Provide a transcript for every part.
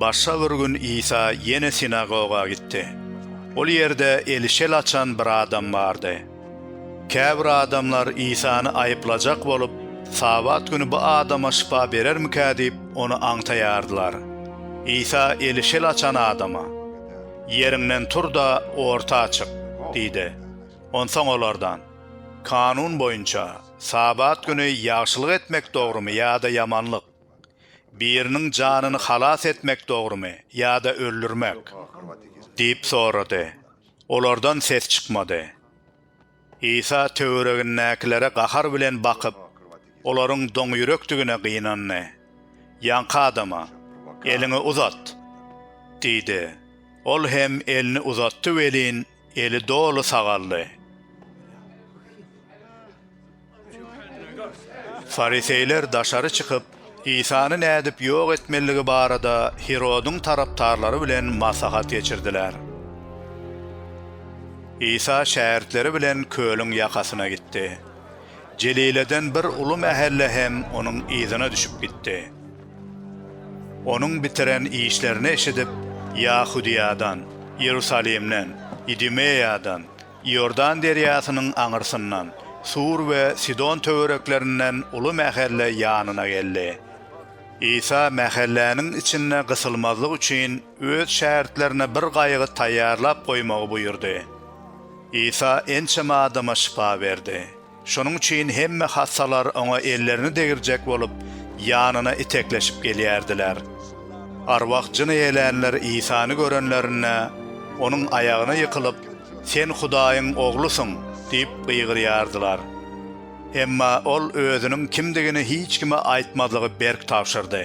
Başga bir gün Isa ýene sinagoga gitdi. Ol ýerde eli şel açan bir adam bardy. Käbir adamlar Isany aýyplajak bolup, Sabat güni bu adama şypa berermikä diýip, ony aňtaýardylar. Isa eli şel açan adama, Ýeriňden tur-da, orta çyk! diýdi. Onsoň olardan. Kanun boýunça, Sabat güni ýagşylyk etmek dogrumy ýa-da ýamanlyk? Biriniň janyny halas etmek dogrumy ýa-da öldürmek? diýip sorady. Olardan ses çykmady. Isa töweregindäkilere gahar bilen bakyp, olaryň doňýürekdigine gynandy. Ýaňky adama, Eliňi uzat! diýdi. Ol hem elini uzatdy welin, Eli doly sagaldy. Fariseýler daşary çykyp, Isany nädip ýok etmelidigi barada Hirodyň tarapdarlary bilen maslahat geçirdiler. Isa şägirtleri bilen kölüň ýakasyna gitdi. Jelileden bir uly mähelle hem onuň yzyna düşüp gitdi. Onuň bitiren işlerini eşidip, Ýahudyýadan, Iýerusalimden, Idumeýadan, Iordan derýasynyň aňyrsyndan, Sur we Sidon töwereklerinden uly mähelle ýanyna geldi. Isa mähelläniň içinde gysylmazlyk üçin öz şägirtlerine bir gaýygy taýýarlap goýmagy buýurdy. Isa ençeme adama şypa berdi. Şonuň üçin hemme hassalar oňa ellerini degirjek bolup, ýanyna itekleşip gelýärdiler. Arwah jyn eýelänler Isany görenlerinde, onuň aýagyna ýykylyp, Sen Hudaýyň Oglusyň! diýip gygyrýardylar. Emma ol özüniň kimdigini hiç kime aýtmazlygy berk tabşyrdy.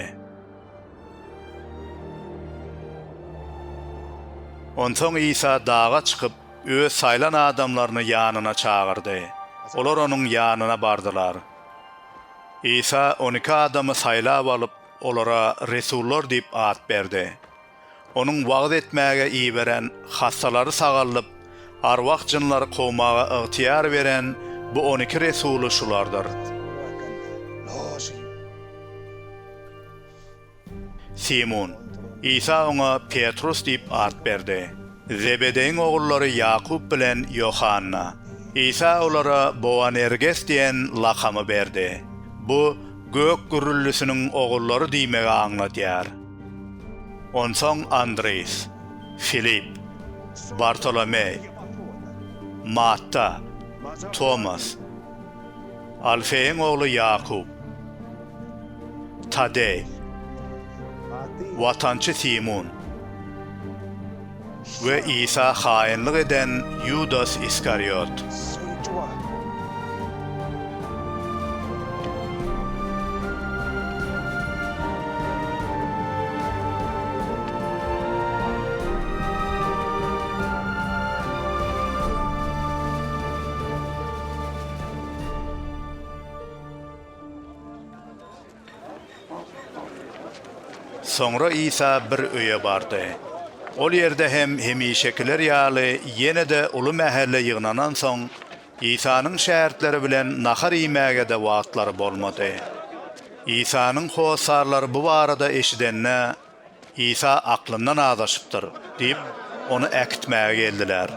Onsoň Isa daga çykyp, Öz saýlan adamlaryny ýanyna çagyrdy. Olar Onuň ýanyna bardylar. Isa on iki adamy saýlap alyp, olara resullar diýip at berdi. Onuň wagyz etmäge iberen, hassalary sagaldyp, arwah jynlary kowmaga ygtyýar beren bu on iki resuly şulardyr. Simun. Isa oňa Petrus diýip at berdi. Zebedeýiň ogullary Ýakup bilen Ýohanna. Isa olara Boanerges diýen lakamy berdi. Bu Gök gürrüldisiniň ogullary diýmegi aňladýar. Onsoň Andris, Filip, Bartolomeý, Matta, Tomas, Alfeýiň ogly Ýakup, Tadeý, Watançy Simun we Isa haýynlyk eden Ýudas Iskariot. Soňra Isa bir öýe bardy. Ol ýerde hem hemişekiler ýaly ýene-de uly mähelle ýygnanansoň, Isanyň şägirtleri bilen nahar iýmäge-de wagtlary bolmady. Isanyň hossarlary bu barada eşidende, Isa aklyndan azaşypdyr diýip, ony äkitmäge geldiler.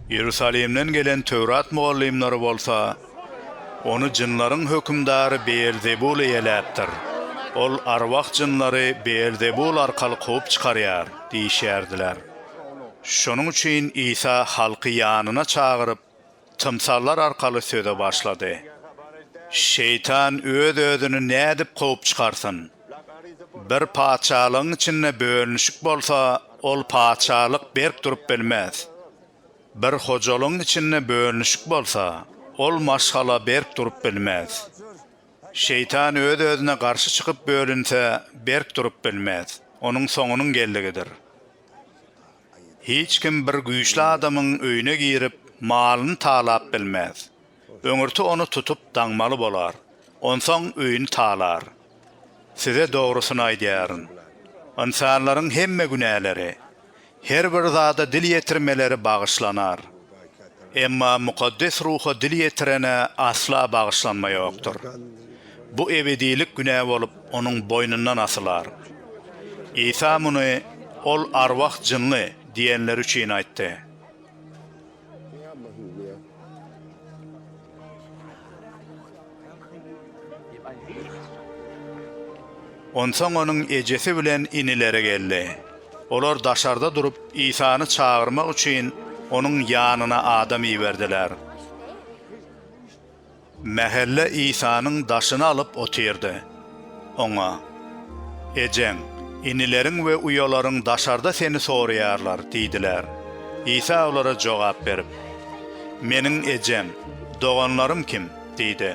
Iýerusalimden gelen Töwrat mugallymlary bolsa Ony jynlaryň hökümdary Beelzebul eýeläpdir. Ol arwah jynlary Beelzebul arkaly kowup çykarýar diýişýärdiler. Şonuň üçin Isa halky ýanyna çagyryp, tymsallar arkaly söze başlady. Şeýtan öz-özüni nädip kowup çykarsyn? Bir patyşalygyň içinde bölünişik bolsa, ol patyşalyk berk durup bilmez. Bir hojalygyň içinde bölünişik bolsa, ol maşgala berk durup bilmez. Şeýtan öz-özüne garşy çykyp bölünse, berk durup bilmez, onuň soňunyň geldigidir. Hiç kim bir güýçli adamyň öýüne girip, malyny talap bilmez. Öňürti ony tutup daňmaly bolar. Onsoň öýüni talar. Size dogrusyny aýdýaryn. Ynsanlaryň hemme günäleri, her bir zada dil ýetirmeleri bagyşlanar. Emma Mukaddes Ruha dil ýetirene asla bagyşlanma ýokdur. Bu ebedilik günä bolup onuň boýnundan asylar. Isa muny Ol arwah-jynly diýenleri üçin aýtdy. Onsoň onuň ejesi bilen inileri geldi. Olar daşarda durup, Isany çagyrmak üçin, onuň ýanyna adam iberdiler. Mähelle Isanyň daşyny alyp otyrdy. Oňa, Ejeň, inileriň we uýalaryň daşarda seni soraýarlar diýdiler. Isa olara jogap berip, Meniň ejem, doganlarym kim? diýdi.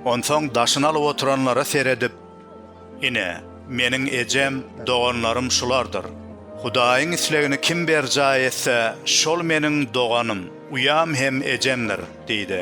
Onsoň daşyny alyp oturanlara seredip, Ine, meniň ejem, doganlarym şulardyr. Hudaýyň islegini kim berjaý etse, şol meniň doganym, uýam hem ejemdir diýdi.